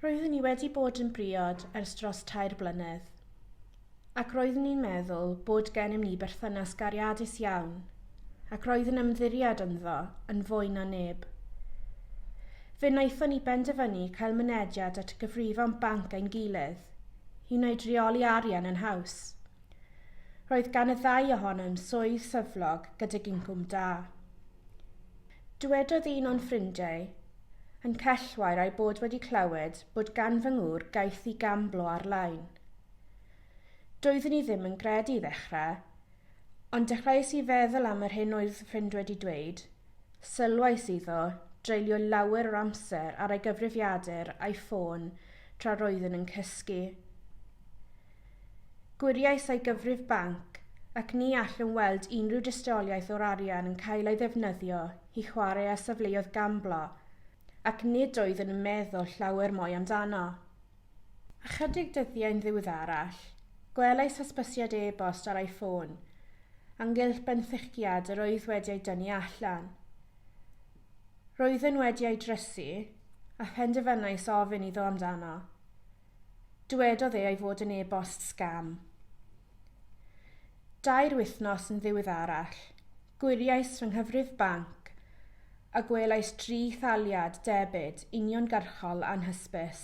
Roeddwn i wedi bod yn briod ers dros tair blynedd, ac roeddwn i'n meddwl bod gennym ni berthynas gariadus iawn, ac roedd yn ymddiried ynddo yn fwy na neb. Fe wnaethon ni benderfynu cael mynediad at gyfrifon banc ein gilydd, i wneud rheoli arian yn haws. Roedd gan y ddau ohonom swydd syflog gydag incwm da. Dywedodd un o'n ffrindiau yn Cellwair a'i bod wedi clywed bod gan fy ngŵr gaeth i gamblo ar-lein. Doeddwn i ddim yn gredu i ddechrau, ond dechreuais i feddwl am yr hyn oedd fy ffrind wedi dweud, sylwais iddo dreulio lawer o'r amser ar ei gyfrifiadur a'i ffôn tra roeddwn yn cysgu. Gwiriais â'i gyfrif banc ac ni allwn weld unrhyw dystiolaeth o'r arian yn cael ei ddefnyddio i chwarae â safleoedd gamblo ac nid oeddwn yn meddwl llawer mwy amdano. Ychydig dyddiau'n ddiweddarach, gwelais hysbysiad e-bost ar ei ffôn ynghylch benthyciad yr oedd wedi ei dynnu allan. Roeddwn wedi ei drysu a phenderfynais ofyn iddo amdano. Dywedodd e ei fod yn e-bost sgam. Dair wythnos yn ddiweddarach, gwiriais fy nghyfrif banc a gwelais dri thaliad debyd uniongyrchol anhysbys.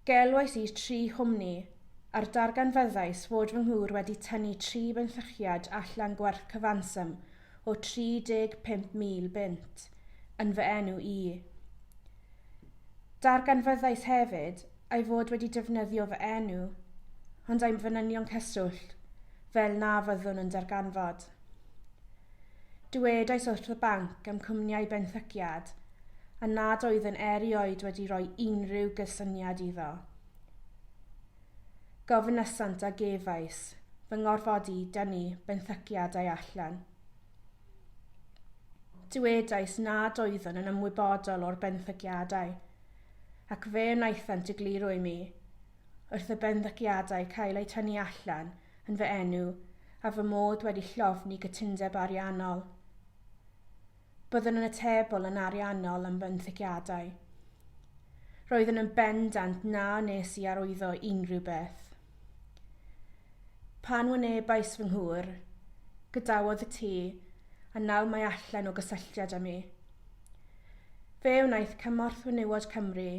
Gelwais i tri chwmni a'r darganfyddais fod fy nghŵr wedi tynnu tri benthyciad allan gwerth cyfanswm o 35,000 bunt yn fy enw i. Darganfyddais hefyd ei fod wedi defnyddio fy enw, ond i'm fanynion cyswllt, fel na fyddwn yn darganfod. Dywedais wrth y banc am cwmniau benthyciad a nad oeddwn erioed wedi rhoi unrhyw gysyniad iddo. Gofynasant a gefais fy ngorfod i dynnu benthyciadau allan. Dywedais nad oeddwn yn ymwybodol o'r benthyciadau, ac fe wnaethant egluro i mi, wrth y benthyciadau cael eu tynnu allan yn fy enw a fy mod wedi llofni cytundeb ariannol. Byddwn yn atebol yn ariannol am fenthyciadau. Roeddwn yn bendant na wnes i arwyddo unrhyw beth. Pan wynebais fy nghŵr, gadawodd y tŷ, a nawr mae allan o gysylltiad â mi. Fe wnaeth Cymorth Fenywod Cymru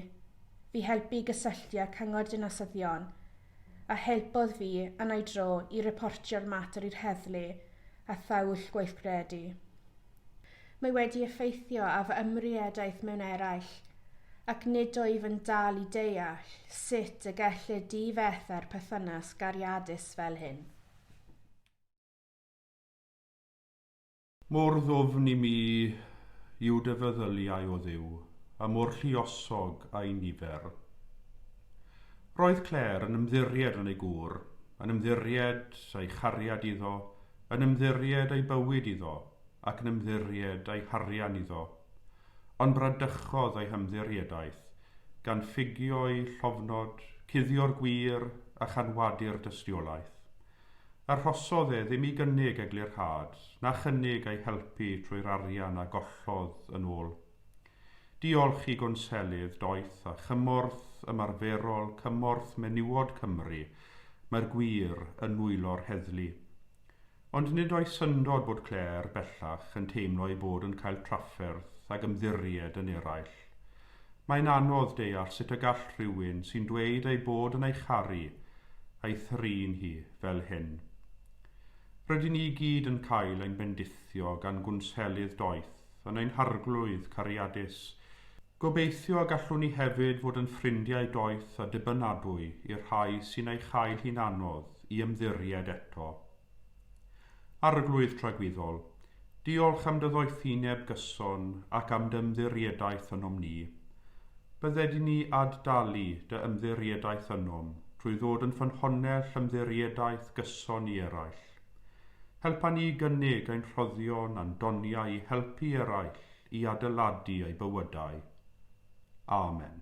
fi helpu i gysylltu â'r Cyngor Dinasyddion a helpodd fi yn ei dro i reportio'r mater i'r heddlu a thaill gweithredu. Mae wedi effeithio ar fy ymriedaeth mewn eraill, ac nid wyf yn dal i deall sut y gellir difetha'r perthynas gariadus fel hyn. Mor ddwfn i mi yw dy feddyliau o Dduw, a mor lluosog a'i nifer. Roedd Claire yn ymddiried yn ei gŵr, yn ymddiried a'i chariad iddo, yn ymddiried ei bywyd iddo, ac yn ymddiried a'i harian iddo. Ond bradychodd ei hymddiriedaeth, gan ffugio'i llofnod, cuddio'r gwir, a chanwadu'r dystiolaeth. Arhosodd e ddim i gynnig eglurhad, na chynnig ei helpu trwy'r arian a gollodd yn ôl. Diolch i Gwnselydd Doeth a Chymorth Ymarferol Cymorth Menywod Cymru, mae'r gwir yn nwylo'r heddlu. Ond nid oes syndod bod Claire, bellach, yn teimlo ei bod yn cael trafferth ag ymddiried yn eraill. Mae'n anodd deall sut y gall rhywun sy'n dweud ei bod yn ei charu ei thrin hi fel hyn. Rydyn ni i gyd yn cael ein bendithio gan gwnselydd doeth yn ein harglwydd cariadus. Gobeithio y gallwn ni hefyd fod yn ffrindiau doeth a dibynadwy i'r rhai sy'n ei chael hi'n anodd i ymddiried eto. Arglwydd tragwyddol, diolch am dy ddoethineb gyson ac am dy ymddiriedaeth ynom ni. Bydde di ni ad-dalu dy ymddiriedaeth ynom trwy ddod yn ffynhonnell ymddiriedaeth gyson i eraill. Helpa ni i gynnig ein rhoddion a'n doniau i helpu eraill i adeiladu eu bywydau. Amen.